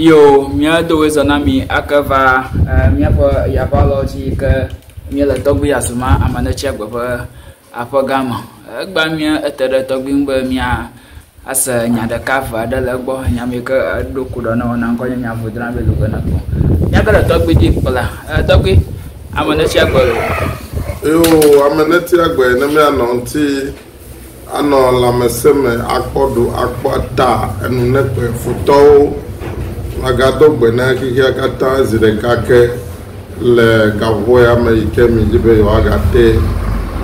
Yo mía dowe zɔ na mi ake va míaƒe yaba lɔ dzi ke míele tɔgbi azuma amanetsia gbe ƒe aƒe gã me. Egba mía ete ɖe tɔgbi ŋu be mía ase nya ɖeka ve aɖe le egbɔ nya mi ke eɖo kuɖɔ ne wɔna ŋkɔ nye nya vodra be lu gana ko. Mía ke le tɔgbi dzi kpla e tɔgbi amanetsia gbe lo. Yo amanetsia gbe ne mía nɔ ŋuti Anɔ lãmesẽ me akpɔ ɖo akpɔ ta enunekpe futɔwo. Magado gbe na xexea katã zi ɖeka ke le gaƒoƒoya me yi ke miedi be yewoagate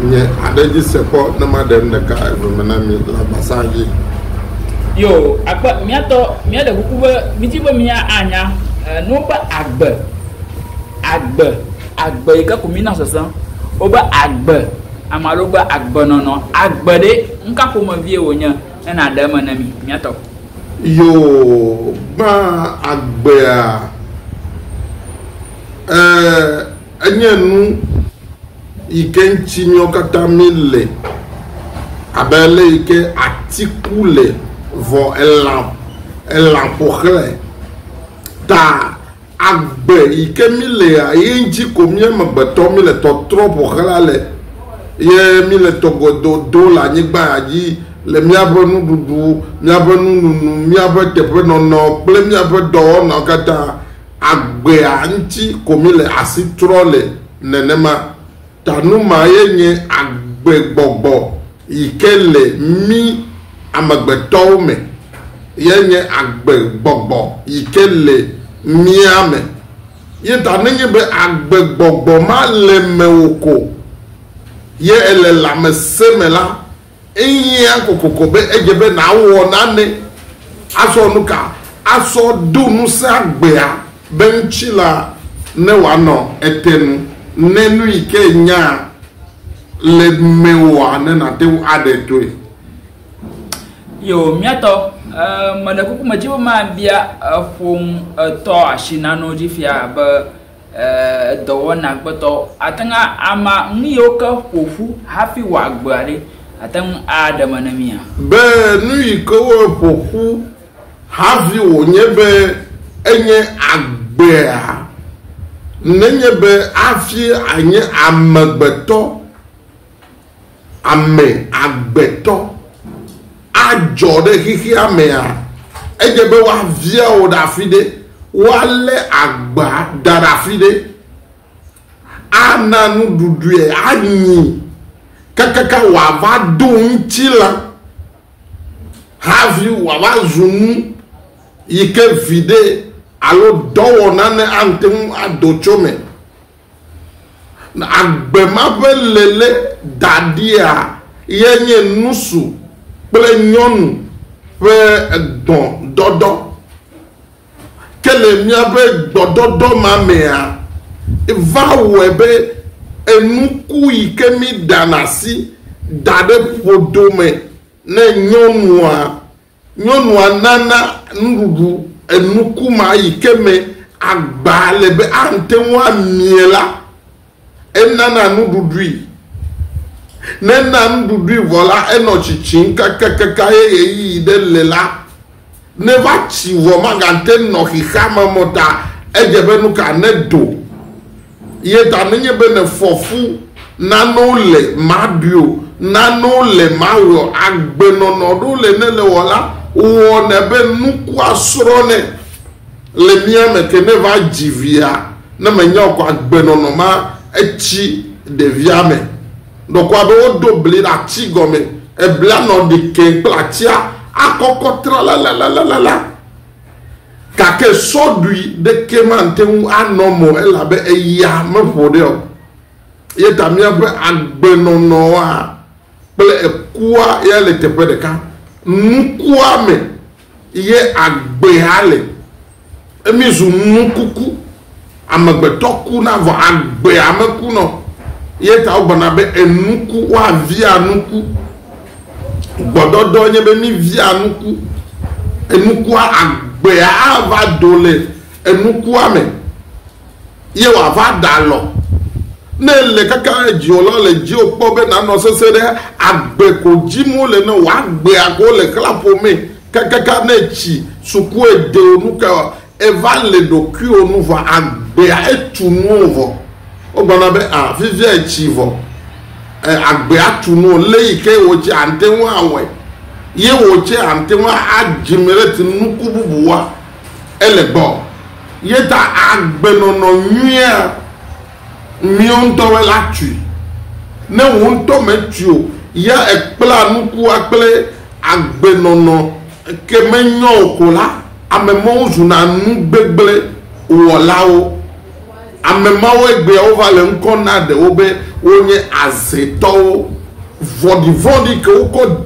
nye aɖe dzi se kpɔ ne maɖem ɖeka eve me na mi le agbasa dzi. Yo, akpe míatɔ míaɖe kuku be midi be mía anya nu be agbe, agbe Agbe yi ke ko mí na sese wobe agbe, ame aɖewo be agbenɔnɔ, agbe ɖe, nu ka ƒomevie wònye ne nàɖe eme ne mí? Mía tɔ. Yoo, gbã agbea, e, enye nu yi ke ŋuti míawo katã mí le abe ale yi ke ati ku le vɔ elã, elã ƒo xlãe ta. Agbe yi ke mí lea, ye ŋtsi ko mí amegbetɔ mí le tɔtrɔ ƒo xlã le, ye mí le tɔ godo do le anyigba ya dzi, le míaƒe nuɖuɖu, míaƒe nununu, míaƒe teƒenɔnɔ kple míaƒe dɔwɔnawo katã, agbea ŋtsi ko mí le asi trɔ le nenema. Ta nu ma ye nye agbegbɔgbɔ yi ke le mí amegbetɔwo me, ye nye agbegbɔgbɔ yi ke le mía me. Ye ta nenye be agbegbɔgbɔ ma le mewò ko ye èle lãmesẽ me la, Ehiã kokoko be edze be nàwɔ nane. Azɔ nuka asɔ do ŋusẽ agbea be ŋuti la ne wòanɔ ete nu ne nu yi ke ènya le mewòa ne nàte ŋu aɖe toe? Yoo, mía tɔ, mele kuku me dim be mabia eƒoŋ etɔ asi nanewo dzi fia be, edɔwɔna gbetɔ ate ŋu ama nu yiwo ke ƒo ƒu hafi wɔ agbea ɖe? Àte ŋu aɖe eme na mía? Be nu yi ke woeƒo ƒu hafi wònye be enye agbea, nenye be hafi ànye amegbetɔ. Ame agbetɔ adzɔ ɖe xexea mea, edze be woavia wò ɖe afi ɖe, woalé agba da ɖe afi ɖe, ana nuɖuɖue anyi kakaka wòava do ŋutilã havi wòava zu nu yi ke viɖe alo dɔwɔna ne ate ŋu ado tso eme. Na agbe ma ƒe lele daɖia ye nye nusu kple nyɔnu ƒe gbɔdɔdɔ. Ke le míaƒe gbɔdɔdɔ ma mea, va wɔe be enuku yi ke míɖana asi da ɖe ƒodo me ne nyɔnua, Nyɔnua nana nuɖuɖu enukuma yi ke me agba le be ate ŋu amie la, enana nuɖuɖui. Ne ena nuɖuɖui vɔ la, enɔ tsitsim kakakaka eye ɣeyiɣi ɖe le la, ne va tsi vɔ magate nɔ xexeame me o ta edze be nuka nedo. Ye ta menye be ne fɔfu nanewo le maɖui o, nanewo le mawɔe o, agbenɔnɔ ɖo le ne le wɔ la, wɔnɛ be nukua srɔ̃nɛ le mía me ke ne va dzi via, ne menya o kɔ agbenɔnɔ ma etsi ɖevia me. Ɖɔkua be wodo bli ɖe ati gɔme, eblia nɔ ɖi keŋ kple atia akɔkɔ tralalalala. Gake sɔɖui ɖekee mate ŋu anɔ me o, elabe eya meƒo ɖe o. Eya ta míaƒe agbenɔnɔa kple ekua ya le teƒe ɖeka. Nukua me ye agbea le. Míezu nukuku. Amegbetɔ kuna vɔ agbea mekunɔ o, eya ta wogblɔna be enuku woavia nuku. Gbɔdɔdɔ nye be mivia nuku. Enukua, agbea ava do le enukua me ye wòava ɖe alɔ. Ne èle kaka ɖe dziwò la, wòle dziwò kpɔ be nànɔ sesẽ ɖe agbe ko dim wole ne wò. Agbea ko wole xlã ƒomee kakaka ne tsi, sukue ɖe wò nu kawoa, Èva le ɖokuiwò nu vɔ agbea etu nuwò vɔ. Wogblɔna be, A, fifia ètsi vɔ. Ẽ, agbea tu nuwò. Lé yi ke wò tsɛ àte ŋu awɔe ye wò tsɛ àte ŋu adzi me ɖe te nuku bubu wɔa ele gbɔ. Ye ta agbenɔnɔ nyuia míwo ŋutɔwoe la tui. Ne wò ŋutɔ mètui o ya èkplea nukua kple agbenɔnɔ ke menyɔ o ko la, ame mawo zuna nu gbegblẽ wɔlawo. Ame mawo egbea wova le ŋkɔ na ɖewo be wonye azetɔwo vɔ̃ɖivɔ̃ɖi ke wokɔ.